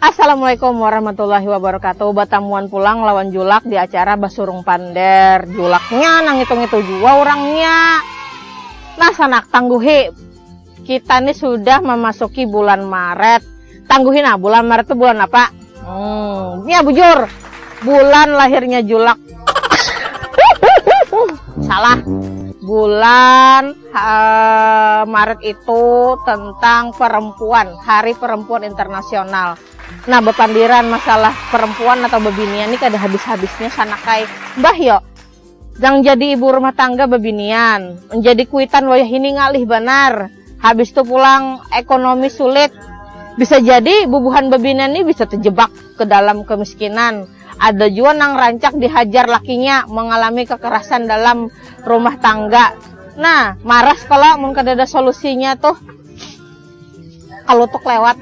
Assalamualaikum warahmatullahi wabarakatuh Batamuan pulang lawan Julak di acara Basurung Pander Julaknya nang ngitu-ngitu jua urangnya Nah sanak tangguhi Kita nih sudah memasuki bulan Maret. Tangguhin ah, bulan Maret itu bulan apa? Hmm, ya bujur. Bulan lahirnya Julak. Salah. Bulan uh, Maret itu tentang perempuan, Hari Perempuan Internasional. Nah, bepandiran masalah perempuan atau bebinian ini kada habis-habisnya sanakai. Mbah yo, Nang jadi ibu rumah tangga babinian, menjadi kuitan wayah ini ngalih banar, habis tu pulang ekonomi sulit, bisa jadi bubuhan babinian ni bisa terjebak ke dalam kemiskinan, ada jua nang rancak dihajar lakinya mengalami kekerasan dalam rumah tangga, nah maras kalo mun kadada solusinya tuh. Kalutuk lewat,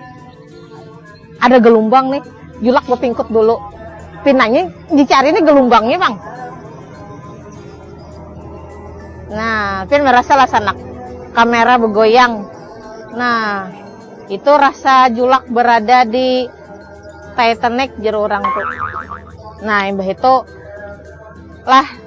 ada gelumbang nih, Julak bepingkut dulu. Pinanya dicari nih gelumbangnya pang. Nah, Pin merasa lah sanak kamera begoyang. Nah, itu rasa Julak berada di Titanic jeru orang tuh. Nah, imbah itu lah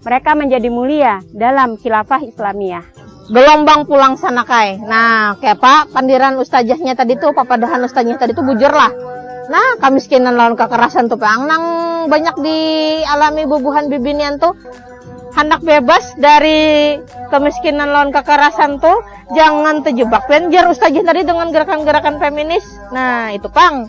Mereka menjadi mulia dalam khilafah Islamiyah. Gelombang pulang sana kai. Nah, kayak apa pandiran ustajahnya tadi tuh, papadahan ustajahnya tadi tuh bujur lah. Nah, kamiskinan lawan kekerasan tuh peang nang banyak dialami bubuhan bibinian tuh handak bebas dari kemiskinan lawan kekerasan tuh jangan terjebak penjar ustajah tadi dengan gerakan-gerakan feminis nah itu pang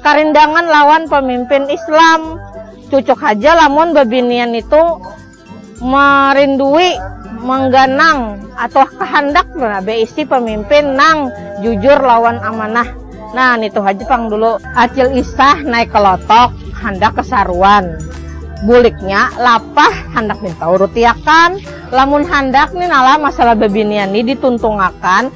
Karindangan lawan pamimpin Islam. Cucuk haja lamun babinian nitu marindui, mangganang, atau kahandak baisi pamimpin nang jujur lawan amanah. Nah, nitu haja pang dulu. Acil Isah naik ka lotok handak kasaruan. Buliknya lapah handak minta urutiakan. Lamun handak ni nalah masalah babinian ni dituntungakan,